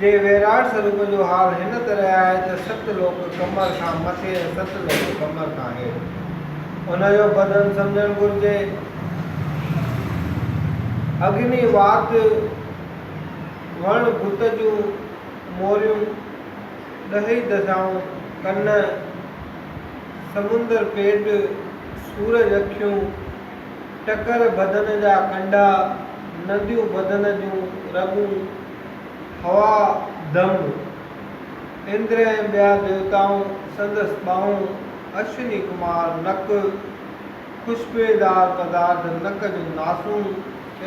جي ويراٽ سروپ جو حال هن طرح آهي ته ست لوڪ ڪمر کان مٿي ۽ ست لوڪ ڪمر کان هيٺ هن جو بدن سمجهڻ گهرجي. اگني وات وڻ بت جون موريون ڏهي دشائون ڪن سمنڊ پيٽ سورج اکيون ٽڪر بدن جا ڪنڊا نديون بدن جون رڳون هوا، دمب، اندر ۽ ٻيا ديوتائون سندس ٻانهون، اشوني ڪمار، نڪ، خوشبوئيدار پدارٿ، نڪ جون ناسون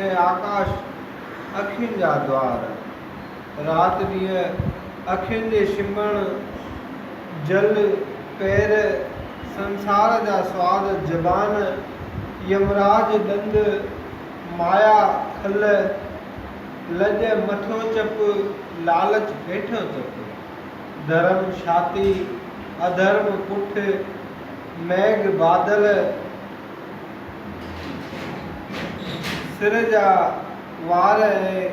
۽ آڪاش، اکين جا دوار، رات ڏينهن، اکين جي شمڻ، جل، پير، سنسار جا سواد، زبان، يمراج، ڏند، مايا، کل، لڄ مٿيون چپ، لالچ هيٺيون چپ. ڌرم ڇاتي، اڌرم پٺ، ميگھ بادل، سر جا وار ۽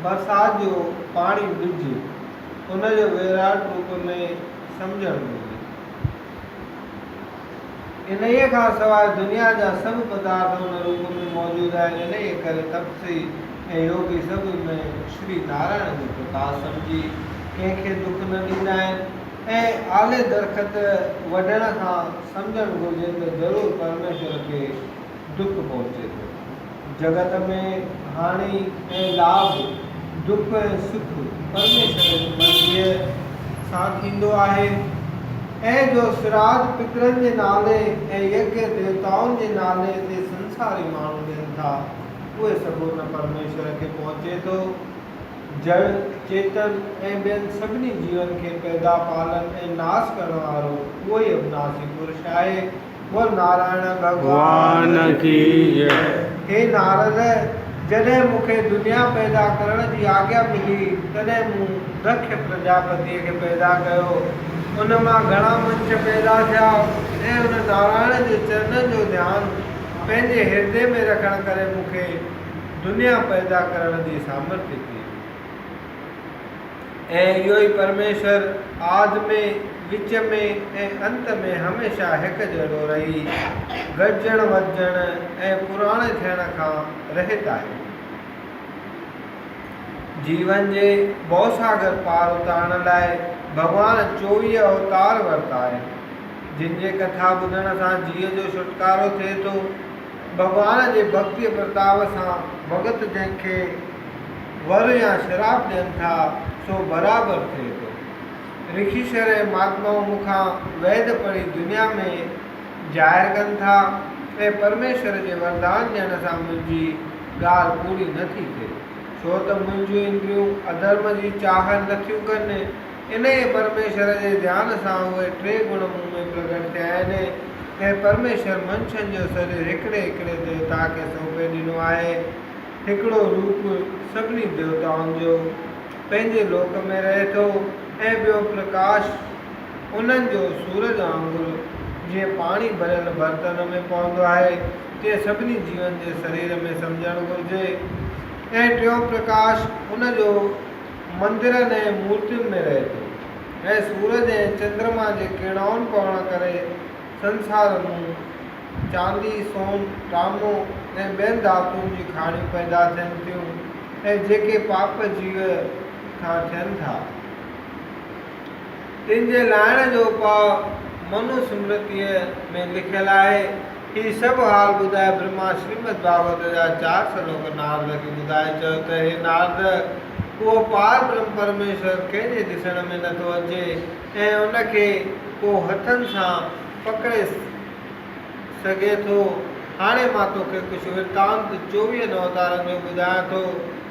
برسات جو پاڻي ٻج، ان جو ويرات روپ ۾ سمجهڻ گهرجي. انهيء کان سواء دنيا جا سڀ پدارٿ ان روپ ۾ موجود آهن، انهيء ڪري تپسي ۽ يوگي سڀ ۾ شري نارائڻ جو پرڪاش سمجهي ڪنهن کي دک نه ڏيندا آهن ۽ آلي درخت وڍڻ کان سمجهڻ گهرجي ته ضرور پرميشور کي ڊپ پهچي ٿو. جڳت ۾ هاڻي ۽ لاڀ، ڊپ ۽ سک پرميشور جي مرضيء سان ٿيندو آهي. ۽ جو سراج پترن جي نالي ۽ يگيا ديوتائن جي نالي تي سنساري ماڻهو ڏين ٿا، اهي سڀ ان پرميشور کي پهچي ٿو، جڙ، چيتن ۽ ٻين سڀني جيون کي پيدا، پالڻ ۽ ناس ڪرڻ وارو اهوئي اوناسي پرش آهي. بول نارائڻ ڀڳوان ڪي جئه. هي نارد! جڏهن مون کي دنيا پيدا ڪرڻ جي آگيا ملي، تڏهن مون دکش پرجاپتيء کي پيدا ڪيو. ان مان گهڻا منڇ پيدا ٿيا ۽ ان نارائڻ جي چرنن جو ڌيان پنهنجي هردي ۾ رکڻ ڪري مون کي دنيا پيدا ڪرڻ جي سامرٿ ٿي. ۽ اهو ئي پرميشور آد ۾، وچ ۾، ۽ انت ۾ هميشه هڪ جهڙو رهي، گڏجڻ وڌجڻ ۽ پراڻي ٿيڻ کان رهيت آهي. جيون جي ڀوساگر پار اتارڻ لاء ڀڳوان چوويهه اوتار ورتا آهن، جن جي ڪٿا ٻڌڻ سان جيء جو ڇوٽڪارو ٿئي ٿو. ڀڳوان جي ڀڳتيء پرتاء سان ڀڳت جنهن کي ور يا شراپ ڏين ٿا، سو برابر ٿئي ٿو. رشيشر ۽ مهاتمائون مون کان ويد پڙهي دنيا ۾ جاهر ڪن ٿا ۽ پرميشور جي وردان ڏيڻ سان منهنجي ڳالهه پوري نه ٿي ٿئي، ڇو ته منهنجيون اندريون اڌرم جي چاهت نه ٿيون ڪن، انهيء پرميشور جي ڌيان سان اهي ٽي گڻ مون ۾ پرگٽ ٿيا آهن. هي پرميشور منشن جو سرير هڪڙي هڪڙي ديوتا کي سونپي ڏنو آهي. هڪڙو روپ سڀني ديوتائن جو پنهنجي لوڪ ۾ رهي ٿو ۽ ٻيو پرڪاش انهن جو سورج وانگر جيئن پاڻي ڀريل برتن ۾ پوندو آهي تيئن سڀني جيون جي سرير ۾ سمجهڻ گهرجي ۽ ٽيون پرڪاش ان جو مندرن ۽ مورتين ۾ رهي ٿو ۽ سورج ۽ چندرما جي ڪيڙائن پوڻ ڪري سنسار مون چاندي، سون، ٽامو ۽ ٻين ڌاتن جي کاڻيون پيدا ٿين ٿيون ۽ جيڪي پاپ جيو کان ٿين ٿا، تن جي لاهڻ جو اپاء منو سمرتيء ۾ لکيل آهي. هي سڀ حال ٻڌائي برهما شريمد ڀاڳوت جا چار شلوڪ نارد کي ٻڌائي چيو ته هي نارد! اهو پار برهم پرميشور ڪنهن جي ڏسڻ ۾ نه ٿو اچي ۽ ان کي ڪو هٿن سان پڪڙي سگهي ٿو. هاڻي مان توکي ڪجهه ورتانت چوويهن اوتارن جو ٻڌايان ٿو.